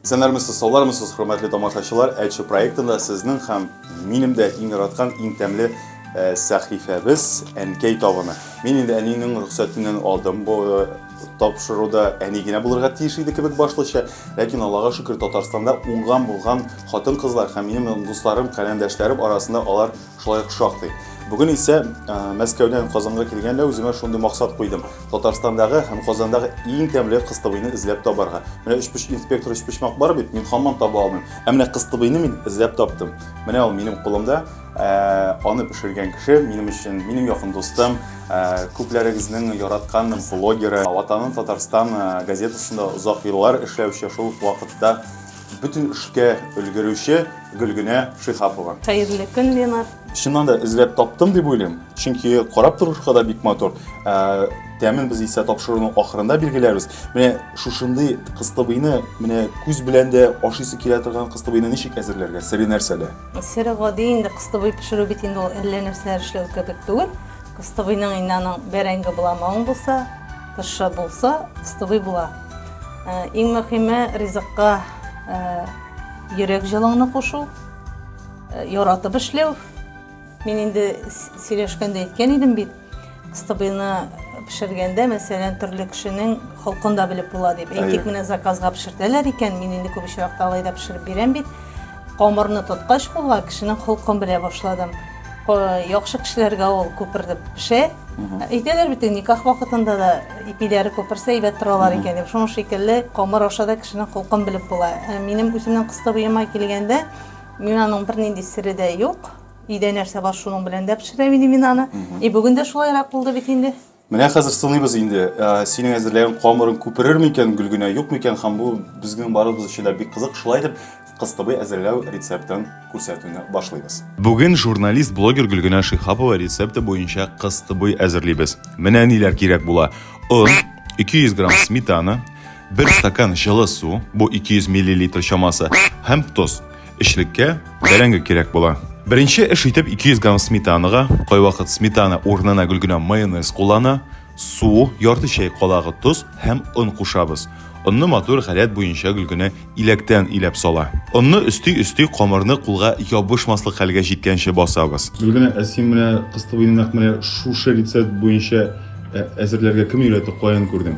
Исәннәрмесез, саулармысыз, хөрмәтле тамашачылар. Әче проектында сезнең һәм минем дә иң яраткан, иң тәмле э, сәхифәбез Әнкәй табыны. Мин инде әнинең рөхсәтеннән алдым бу э, тапшыруда әни генә булырга тиеш иде кебек башлыча, ләкин Аллага шөкер, Татарстанда уңган булган хатын-кызлар һәм минем дусларым, каләмдәшләрем арасында алар Шулай ук шактый. Бүген исә Мәскәүдән Казанга килгәндә үземә шундый максат куйдым. Татарстандагы һәм Казандагы иң тәмле кыстыбыйны эзләп табарга. Менә өчпоч инспектор өчпочмак бар бит, мин хаман таба алмыйм. Ә менә кыстыбыйны мин эзләп таптым. Менә ул минем кулымда. Аны пешергән кеше минем өчен, минем якын дустым, күпләрегезнең яраткан блогеры, Ватаным Татарстан газетасында озак еллар эшләүче, шул ук вакытта Бөтен эшкә өлгерүче Гөлгенә Шихапова. Хәерле көн, Ленар. Чыннан да эзләп таптым дип уйлыйм, чөнки карап торышка да бик матур. Ә, Тәмен без исә тапшыруның ахырында билгеләрбез. Менә шушындый кыстыбыйны, менә күз белән дә ашыйсы килә торган кыстыбыйны ничек әзерләргә? Сере нәрсәдә? Сере гади инде кыстыбый пешерү бит инде ул әллә нәрсәләр эшләү кебек түгел. Кыстыбыйның инде аның бәрәңге буламавың булса, Тышы булса, стыбый була. Иң мөхиме ризыкка йөрәк җылыңны кушу, яратып эшләү. Мин инде сөйләшкәндә әйткән идем бит, стыбыйны пешергәндә, мәсәлән, төрле кешенең холкын да белеп була дип. Әйтик, менә заказга пешертәләр икән, мин инде күп очракта алай да пешереп бирәм бит. Камырны тоткач була, кешенең холкын белә башладым. Яхшы кешеләргә ул күпердеп пешә. Әйтәләр бит, никах вакытында да ипиләре күперсә әйбәт торалар икән дип. Шуның шикелле камыр аша да кешенең холкын белеп була. Ә минем үземнең кыстыбыема килгәндә, минаның бернинди сере дә юк. Өйдә нәрсә бар, шуның белән дә пешерәм иде минаны. И бүген дә шулайрак булды бит инде. Менә хәзер сыныйбыз инде. Синең әзерләгән камырың күперер микән, гөлгенә юк микән һәм бу безнең барыбыз өчен дә бик кызык. Шулай итеп, кыстыбый әзерләү рецептын күрсәтүне башлыйбыз. Бүген журналист-блогер Гөлгенә Шиһапова рецепты буенча кыстыбый әзерлибез. Менә ниләр кирәк була. Он, 200 грамм сметана, бер стакан җылы су, бу 200 миллилитр чамасы, һәм тоз. Эчлеккә бәрәңге кирәк була. Беренче эш итеп 200 грамм сметанага, кайвакыт сметана урынына гел генә майонез куллана, су, ярты чәй калагы тоз һәм он кушабыз. Онны матур гадәт буенча гел генә иләктән иләп сала. Онны өсти-өсти камырны кулга ябышмаслык хәлгә җиткәнче басабыз. Гел генә ә син менә кыстыбыйны нәкъ менә шушы рецепт буенча әзерләргә кем өйрәтте, каян күрдең?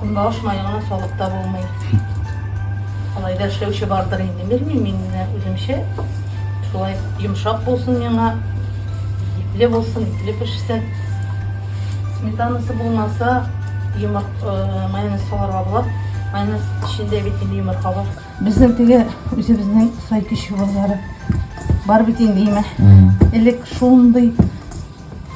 Көнбагыш мае гына салып та булмый. Алай да эшләүче бардыр инде, белмим мин менә үземчә. Шулай йомшак булсын миңа, ипле булсын, ипле пешсен. Сметанасы булмаса, йомырт э, майонез салырга була. Майонез эчендә бит инде йомырка бар. Безнең теге үзебезнең сай кеше базары бар бит инде име. Элек шундый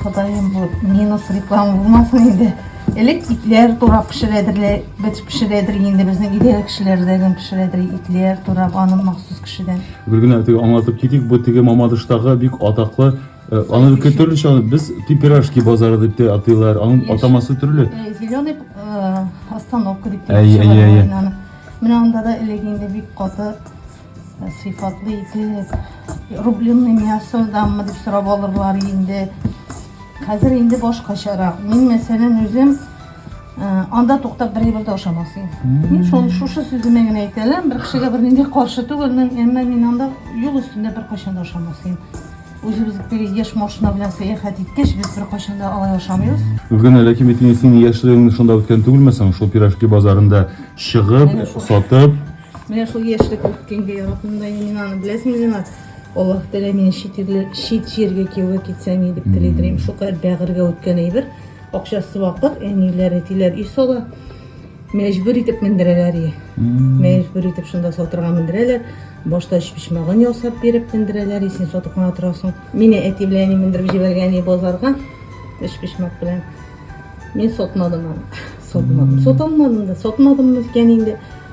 Ходаем, бу минус реклама булмасын инде. Элек итләр турап пешерәдерләр, бит пешерәдер инде безнең идәр кешеләрдән пешерәдер итләр турап аны махсус кешедән. Бер генә теге аңлатып китик, бу теге Мамадыштагы бик атаклы э, аны бик төрлечә без пипирашки базары дип тә атыйлар. Аның атамасы төрле. Э, зеленый э, остановка дип тә. Әйе, әйе, әйе. Менә анда да элек инде бик каты Сыйфатлы итеп, рубленный мясо дамы дип сорап алырлар инде. Хәзер инде башкачарак. Мин мәсәлән үзем э, анда туктап бер әйбер дә ашамасым. Мин шуны шушы сүземә генә әйтәләм, бер кешегә бернинди каршы түгелмен, әмма мин анда юл өстендә беркайчан да ашамасым. Үзебез теге яшь машина белән сәяхәт иткәч, без беркайчан да алай ашамыйбыз. Гөлгенә, ләкин бит инде синең яшьлегең шунда үткән түгелме соң? Шул пирожки базарында чыгып, сатып, Менә шул яшьлек үткәнгә яратмыйм да мин аны, беләсеңме, Ринат? Аллаһ Тәгалә мине чит ирле, чит җиргә кияүгә китсәм и дип тели дирим. Шукадәр бәгырьгә үткән әйбер. Акчасы вакыт, әниләр, әтиләр өй сала. Мәҗбүр итеп мендерәләр и. Мәҗбүр итеп шунда сатырга мендерәләр. Башта өчпочмагын ясап биреп мендерәләр и, син сатып кына торасың. Мине әти белән әни мендереп җибәргән и базарга өчпочмак белән. Мин сатмадым аны. Сатмадым. Саталмадым да. Сатмадыммы икән инде?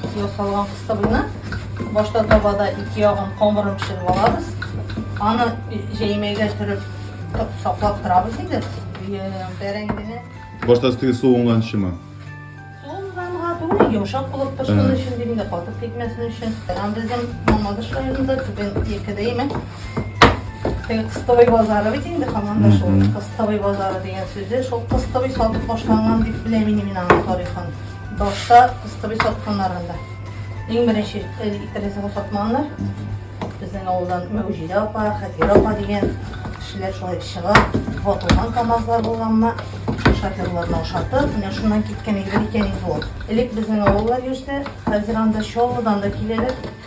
Ике ел салган кыстыбызны башта табада ике ягын камырын пешереп алабыз. Аны җәймәгә төреп саклап торабыз инде. Бәрәңгене. Башта өстеге суынганчымы? Суынганга түгел, йомшак булып торсын өчен дим дә, катып китмәсен өчен. Һәм безнең Мамадыш районында түбән Екедәйме? Теге кыстыбый базары бит инде һаман да шул. Кыстыбый базары дигән сүзе шул кыстыбый сатып башланган дип беләм инде мин аның тарихын. Башта кыстыбый сатканнар анда. Иң беренче иттересен сатманнар. Безнең авылдан Мәүҗидә апа, Хәтирә апа дигән кешеләр шулай чыга. Ватылган КАМАЗлар булганмы, шоферларны ошатып, менә шуннан киткән иде икән инде ул. Элек безнең авыллар йөрсә, хәзер анда Чаллыдан да киләләр.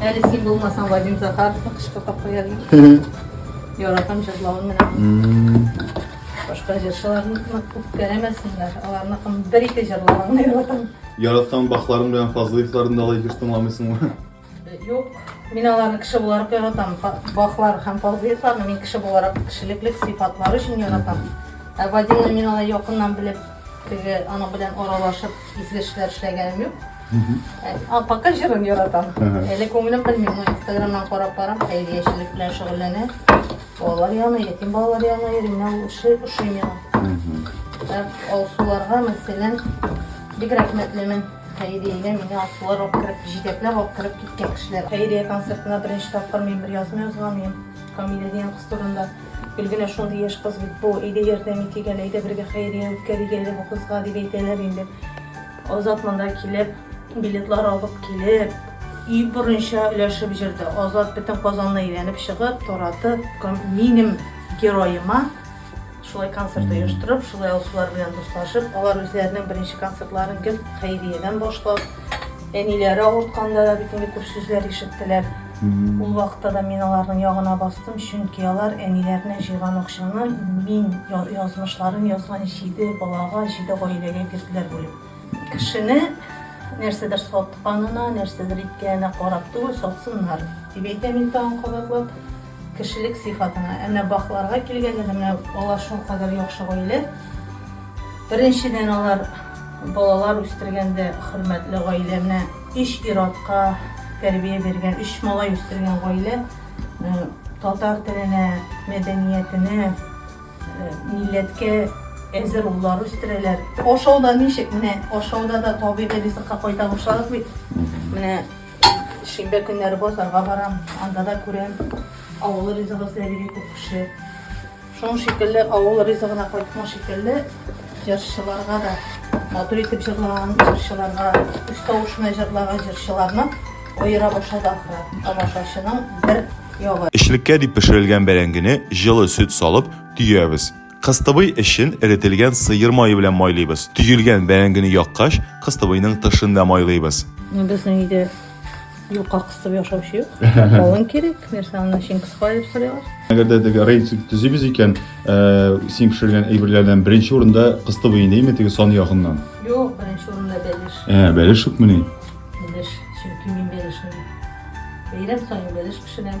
Әле син булмасаң, Вадим Захаровны кышкы капка язмый. Яратам җырлавын менә. Башка җырчыларны күп кәрәмәсеннәр. Аларны кым бер ике җырлавын яратам. Яраткан бахларың белән Фазлыевларны да алай бир тыңламыйсыңмы? Юк, мин аларны кеше буларак яратам. Бахлар һәм Фазлыевларны мин кеше буларак кешелеклек сыйфатлары өчен яратам. Ә Вадимны мин алай якыннан белеп, теге аның белән аралашып Изге эшләр эшләгәнем юк. Ә, Пока җырын яратам. Ага. Әле күңелем белми, но инстаграмнан карап барам, хәйриячелек белән шөгыльләнә. Балалар янына, ятим балалар янына йөри, менә ул эше ошый миңа. Ә Алсуларга, мәсәлән, бик рәхмәтлемен. Хәйриягә мине Алсулар алып кереп, җитәкләп алып кереп киткән кешеләр. Хәйрия концертына беренче тапкыр мин бер язма язган идем. Камилә дигән кыз турында. Гел генә шундый яшь кыз бит бу, әйдә ярдәм итик әле, әйдә бергә хәйрия үткәрик әле бу кызга, дип әйтәләр инде. Азат монда килеп, билетлар алып килеп, өй борынча өләшеп җырды. Азат бөтен Казанны әйләнеп чыгып, таратып, минем героема шулай концерт оештырып, шулай алсулар белән дуслашып, алар үзләренең беренче концертларын гел хәйриядән башлап, Әниләре авыртканда да бит инде күп сүзләр ишеттеләр. Ул вакытта да мин аларның ягына бастым, чөнки алар әниләренә җыйган акчаны мин язмышларын язган җиде балага, җиде гаиләгә бирделәр бүлеп. Кешене нәрсәдер сатканына, нәрсәдер иткәненә карап түгел, сатсыннар, дип әйтәм мин тагын кабатлап. Кешелек сыйфатына. Ә менә бакларга килгәндә дә, менә алар шулкадәр яхшы гаилә. Беренчедән, алар балалар үстергәндә хөрмәтле гаилә. Менә өч ир-атка тәрбия биргән, өч малай үстергән гаилә. Татар теленә, мәдәниятенә, милләткә әзер уллар үстерәләр. Ашауда ничек? Менә ашауда да табигый ризыкка кайтарылышабыз бит. Менә. Шимбә көннәре базарга барам, анда да күрәм, авыл ризыгы эзләп йөри күп кеше. Шуның шикелле авыл ризыгына кайткан шикелле җырчыларга да матур итеп җырлаган җырчыларга, үз тавыш белән җырлаган җырчыларны аера башлады ахры. Тамашачының бер ягы. Эчлеккә дип пешерелгән бәрәңгене җылы сөт салып төябез. Кыстыбый эчен эретелгән сыер мае белән майлыйбыз. Төелгән бәрәңгене яккач, кыстыбыйның тышын да майлыйбыз. Безнең өйдә юка кыстып яшаучы юк. Калын кирәк, нәрсә аны чын кыска дип сорыйлар. Әгәр дә теге рейтинг төзибез икән, син пешергән әйберләрдән беренче урында кыстыбый инеме теге сан ягыннан? Юк, беренче урында бәлеш. Ә, бәлеш юкмыни? Бәлеш, чөнки мин бәлешне бәйрәм саен бәлеш пешерәм.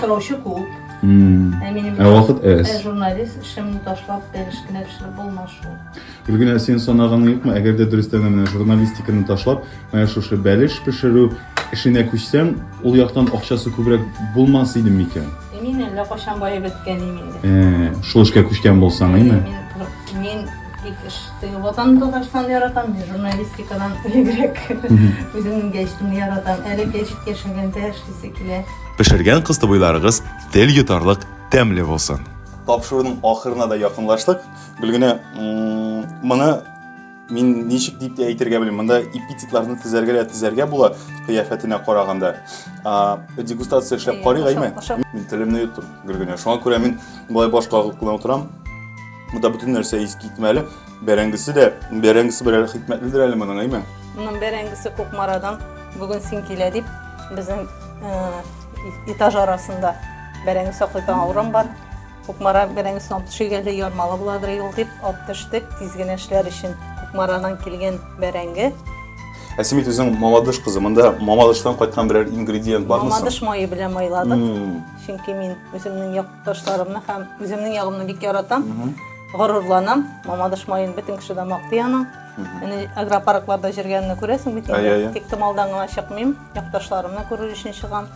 Сораучы күп. Ә минем Ә вакыт Ә әз. журналист эшемне ташлап, бер эш кенә пешереп булмас шул. Гөлгенә, син санаганың юкмы, әгәр дә дөрестән дә менә журналистиканы ташлап, менә шушы бәлеш пешерү эшенә күчсәң, ул яктан акчасы күбрәк булмас иде микән? Ә мин әллә кайчан баеп беткәнем инде. Ә, шул эшкә күчкән булсаң, әйме? Мин, мин тик эш Теге ватаным Татарстан яратам, мин журналистикадан элегрәк үземнең гәҗитемне яратам. Әле гәҗит яшәгәндә эшлисе килә. Пешергән кыстыбыйларыгыз тел йотарлык тәмле булсын. Тапшыруның ахырына да якынлаштык. Гөлгенә, моны мин ничек дип тә әйтергә белмим. Монда эпитетларны тезәргә дә тезәргә була, кыяфәтенә караганда. Дегустация эшләп карыйк, әйме? Мин телемне йоттым, Гөлгенә. Шуңа күрә мин болай баш кагып кына утырам. Монда бөтен нәрсә ис китмәле. Бәрәңгесе дә, бәрәңгесе берәр хикмәтледер әле моның, әйме? Моның бәрәңгесе Кукмарадан бүген син килә дип безнең этаж арасында бәрәңге саклыйтан урын бар. Кукмара бәрәңгесен алып төшик әле, ярмалы буладыр юл дип алып төштек. Тиз генә эшләр өчен Кукмарадан килгән бәрәңге. Ә син бит үзең Мамадыш кызы. Монда Мамадыштан кайткан берәр ингредиент бармы? Мамадыш мае белән майладык. Чөнки мин үземнең як Ташларымны һәм үземнең ягымны бик яратам. Горурланам. Мамадыш маен бөтен кеше дә мактый аның. Әни агропаркларда җиргәнне күрәсең бит Әйе, әйе. Тик томалдан гына чыкмыйм. Якташларымны күрер өчен чыгам.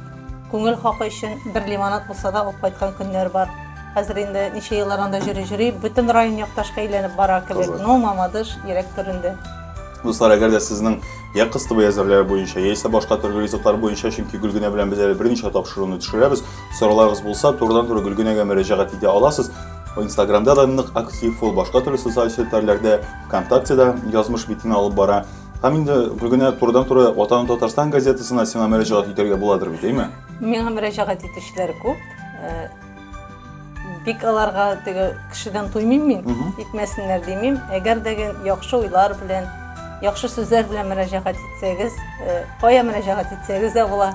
Күңел хакы өчен бер лимонад булса да алып кайткан көннәр бар. Хәзер инде ничә еллар анда йөри йөри, бөтен район якташка әйләнеп бара кебек. Кызык. Ну, Мамадыш йөрәк түрендә. Дуслар, әгәр дә сезнең я кыстыбый әзерләр буенча, яисә башка төрле ризыклар буенча, чөнки Гөлгенә белән без әле берничә тапшыруны төшерәбез, Сорауларыгыз булса, турыдан-туры Гөлгенәгә мөрәҗәгать итә аласыз. Инстаграмда да нык актив, ул башка төрле социаль челтәрләрдә, ВКонтактеда язмыш битен алып бара. Һәм инде Гөлгенә турыдан туры Ватаным Татарстан газетасына сиңа мөрәҗәгать итәргә буладыр бит, әйме? Миңа мөрәҗәгать итүчеләр күп. Э, бик аларга теге кешедән туймыйм мин, итмәсеннәр димим. Әгәр дә яхшы уйлар белән, яхшы сүзләр белән мөрәҗәгать итсәгез, э, кая мөрәҗәгать итсәгез дә була.